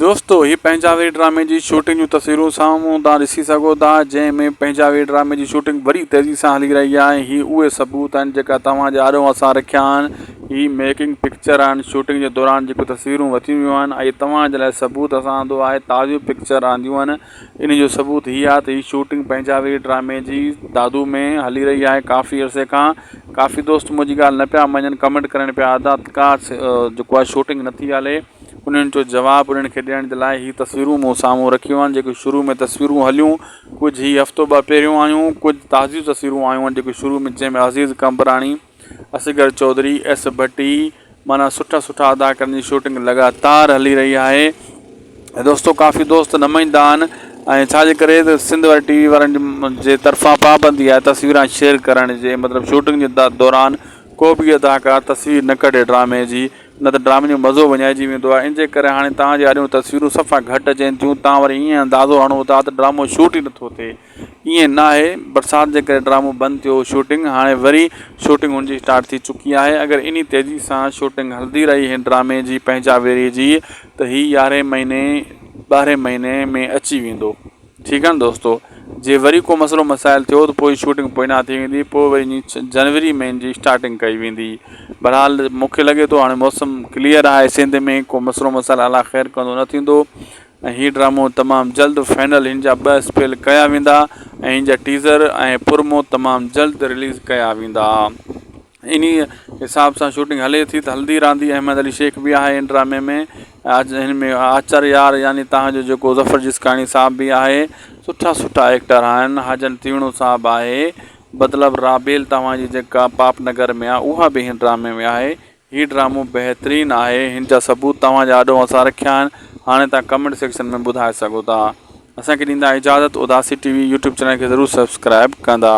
دوستو هي پنهنجاوي ڊرامي جي شوٽنگ جون تصويرون سامهون تان ڏسي سگهو ٿا جنهن ۾ پنهنجاوي ڊرامي جي شوٽنگ وڏي تيزي سان هلي رهي آهي هي اهي ثبوت آهن جيڪا توهان جي آڏو اسان رکيا آهن هي ميڪنگ پڪچر آهن شوٽنگ جي دوران جيڪو تصويرون وتيون ويون آهن اهي توهان جي لاء ثبوت اسان آندو آهي تازيون پڪچر آنديون آهن انهي جو ثبوت هي آهي ته هي شوٽنگ پنهنجاوي ڊرامي جي دادو ۾ هلي رهي آهي ڪافي عرصي کان ڪافي دوست منهنجي ڳالهه نه پيا مڃن ڪمينٽ ڪرڻ پيا ادا ڪا جيڪو آهي شوٽنگ نٿي هلي انهن جو جواب انهن کي ڏيڻ جي لاء هي تصويرون مون سامهون رکيون آهن جيڪي شروع ۾ تصويرون هليون ڪجهه هي هفتو ٻه پهريون آيون ڪجهه تازيون تصويرون آيون آهن جيڪي شروع ۾ جنهن ۾ عزيز قمبراڻي اصغر چوڌري ايس ڀٽي معنيٰ سٺا سٺا اداڪارن جي شوٽنگ لڳاتار هلي رهي آهي ۽ دوستو ڪافي دوست نمائندا آهن ۽ ڇا جي ڪري ته سنڌ واري ٽي وي وارن جي طرفان پابندي آهي تصويران شيئر ڪرڻ جي مطلب شوٽنگ جي دوران ڪو بي اداڪار تصوير نه ڪڍي ڊرامي جي نه ته ڊرامي جو مزو وڃائجي ويندو آهي، ان جي ڪري هاڻي توهان جي آڏيون تصويرون صفا گهٽ اچين ٿيون، توهان وري ائين اندازو هڻو ٿا ته ڊرامو شوٽ ئي نه ٿو ٿئي، ائين ناهي، برسات جي ڪري ڊرامو بند ٿيو هو شوٽنگ هاڻي وري شوٽنگ هن جي اسٽارٽ ٿي چڪي آهي، اگر انهي تيزي سان شوٽنگ هلندي رهي هن ڊرامي جي پنهنجاويري جي ته هي يارهين مهيني ٻارهين مهيني ۾ اچي ويندو. ٺيڪ آهي نه دوستو. جي وري ڪو مسئلو مسائل ٿيو ته پوء شوٽنگ پوئنا ٿي ويندي پوء وري ائين جنوري ۾ ان جي اسٽارٽنگ ڪئي ويندي بھرحال مون کي لڳي ٿو ھاڻي موسم ڪليئر آھي سنڌ ۾ ڪو مسئلو مسائل الله خير ڪندو نه ٿيندو ۽ ھي ڊرامو تمام جلد فائنل ھن جا ٻه اسپيل ڪيا ويندا ۽ ھن جا ٽيزر ۽ پرمو تمام جلد رليز ڪيا ويندا. انهيء حساب سان شوٽنگ هلي ٿي ته هلندي رهندي. احمد علي شيخ به آهي ان ڊرامي ۾. هن ۾ آچر يار يعني تان جو جيڪو ظفر جسڪاڻي صاحب به آهي. سٺا سٺا ايڪٽر آهن. حاجن تيوڻو صاحب آهي. بدلب رابيل توهان جي جيڪا پاپ نگر ۾ آ اها به هن ڊرامي ۾ آهي. هي ڊرامو بهترين آهي. هن جا ثبوت توهان جي آڏو اسان رکيا آهن. هاڻي توهان ڪمينٽ سيڪشن ۾ ٻڌائي سگهو ٿا. اسان کي ڏيندا اجازت Udasi T V YouTube channel کي ضرور سبسڪرائيب ڪندا.